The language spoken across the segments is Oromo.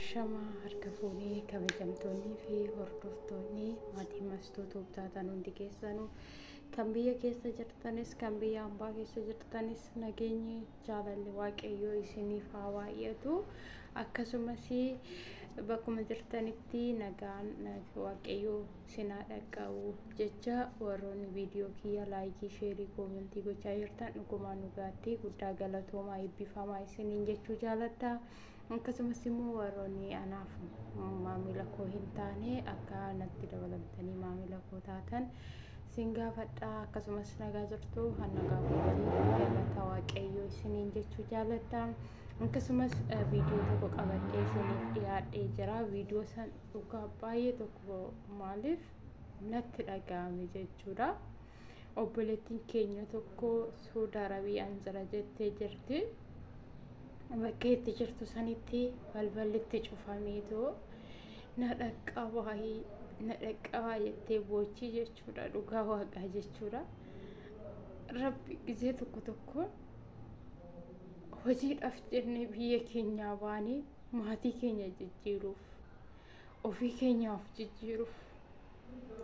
Shama harka fuunee kabajamtoonnii fi hordoftoonni maatii mastuu tuubtaatan hundi keessanuu kan biyya keessa jirtanis kan biyya ambaa keessa jirtanis nageenyi jaalalli waaqayyoo isiniif haa baay'atu akkasumas bakkuma jirtanitti nagaan waaqayyoo isin haa dhaqqabu jecha warroonni viidiyoo kiyya laayikii sheerii koomentii gochaa jirtan dhugumaan dhugaatti guddaa galatoomaa eebbifamaa isiniin jechuu jaaladha akkasumas immoo warroonni anaaf maamila koo hin taane akka natti dabalamtanii maamila koo taatan sin gaafadha akkasumas nagaa jirtu kan nagaa kootii galata waaqayyoo isiniin jechuu jaaladha akkasumas viidiyoo tokko qabadhee isiniif dhiyaadhee jira viidiyoo san Dhugaa baay'ee tokko maaliif natti dhaga'ame jechuudha. Obboleettiin keenya tokko Suudi Arabiyaan jira jettee jirti. Bakka itti jirtu sanitti balballi itti cufameetoo na dhaqqabaa na dhaqqabaa jettee boochii jechuudha dhugaa waaqaa jechuudha. Rabbi gizee tokko tokko hojiidhaaf jennee biyya keenyaa baanee maatii keenya jijjiiruuf ofii keenyaaf jijjiiruuf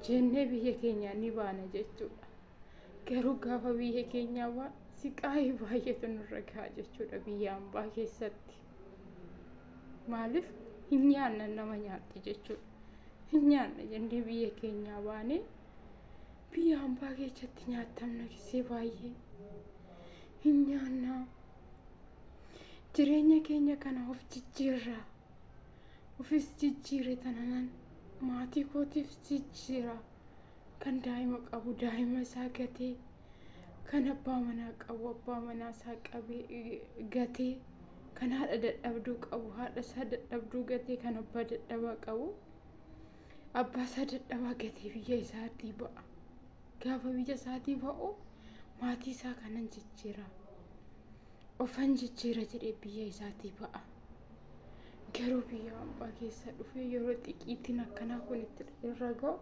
jennee biyya keenyaa ni baana jechuudha. Garuu gaafa biyya keenyaa baa siqaayii baay'eetu nurra gahaa jechuudha biyya ambaa keessatti. Maaliif hin nyaanna nama nyaatti jechuudha. Hin nyaanna jennee biyya keenyaa baanee biyya ambaa keessatti nyaatamna gisee baay'ee hin nyaannaa. jireenya keenya kana of jijjiirra ofis jijjiire tananan maatii kootiif jijjiira kan daa'ima qabu daa'ima isaa gatee kan abbaa manaa qabu abbaa manaa isaa qabee gatee kan haadha dadhabduu qabu haadha isaa dadhabduu gatee kan abbaa dadhabaa qabu abbaa isaa dadhabaa gatee biyya isaatii ba'a. Gaafa biyya isaatii ba'u maatii isaa kanan jijjiira. Ofan jijjiira jedhee biyya isaatii ba'a. Garuu biyya hambaa keessa dhufee yeroo xiqiitiin akkanaa kun itti irra ga'u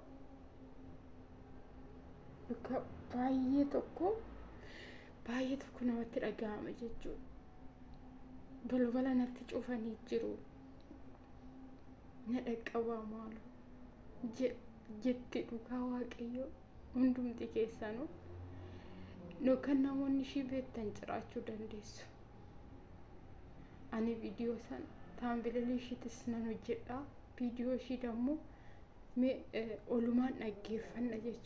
bakka baay'ee tokko baay'ee tokko namatti dhaga'ama jechuudha. Balbala natti cufanii jiru. Na dhaqqabaa maaloo. jetti dhugaa waaqayyoo hundumti keessanuu yookaan namoonni ishii beektan jiraachuu dandeessu. Ani viidiyoo san taambililii ishiitis nan hojjedha. Viidiyoo ishii dammoo olumaan dhaggeeffanna jechuudha.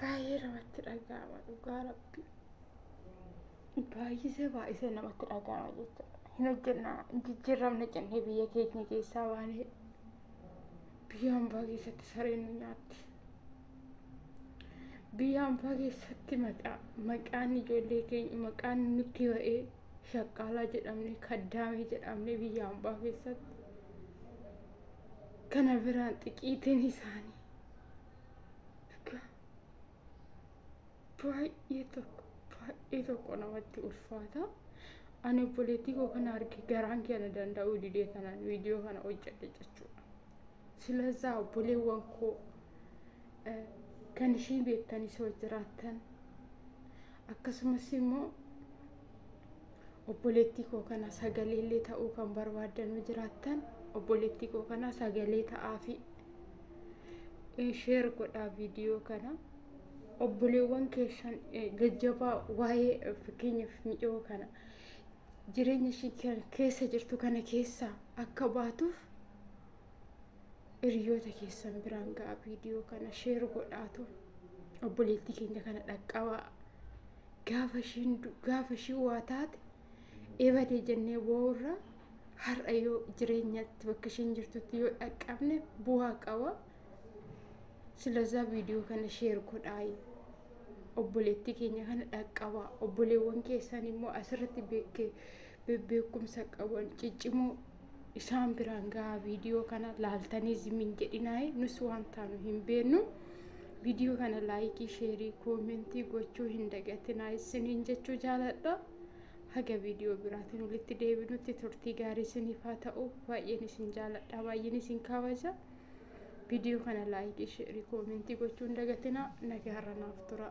baay'ee namatti dhaga'ama dhugaa rabbi baay'isee baay'isee namatti dhaga'ama jechuudha hin hojjenna hin jijjiirramne jennee biyya keenya keessaa baanee biyya hambaa keessatti sareen nu nyaatti biyya hambaa keessatti maqaa maqaan ijoollee keenya maqaan nutti ba'ee shaqqaalaa jedhamne kaddaamee jedhamne biyya hambaa keessatti Kana biraan xiqiitiin isaanii dhugaa baay'ee tokko baay'ee tokko namatti ulfaata. Ani obboleettii koo kana arge garaan kee na danda'uu didee kanaan viidiyoo kana hojjedhe jechuudha. Silazaa obboleewwan koo eh, kan ishii beektanis yoo jiraattan akkasumas immoo obboleettii koo kana sagalee illee ta'uu kan barbaaddan yoo jiraattan obboleettii koo kana sagalee ta'aafi sheer godhaa viidiyoo kana obboleewwan keessan eh, jajjabaa waa'ee eh, fakkeenyaaf mi'oo kana jireenya ishii ke- keessa jirtu kana keessaa akka baatuuf hiriyoota keessan biraan ga'a viidiyoo kana sheer godhaatu obboleettii keenya kana dhaqqabaa gaafa ishiin du- gaafa ishii waa taate eebadee jennee boo'urra har'a yoo jireenyatti bakka ishiin jirtutti yoo dhaqqabne bu'aa qaba silazaa viidiyoo kana sheer godhaayi obboleettii keenya kana dhaqqabaa obboleewwan keessan immoo asirratti beekke- be- beekumsa qaban ciccimoo isaan biraan gahaa viidiyoo kana laaltanii zimiin jedhinaayi nus waan taanu hin beennu viidiyoo kana laayikii sheerii koomentii gochuu hin dagatinaa isiniin jechuu jaaladha haga viidiyoo biraatiin walitti deebinutti turtii gaarii isiniif haa ta'u baay'een isin jaaladha baay'een isin kabaja viidiyoo kana laayikii sheerii koomentii gochuu hin dagatinaa nagaarra naaf tura.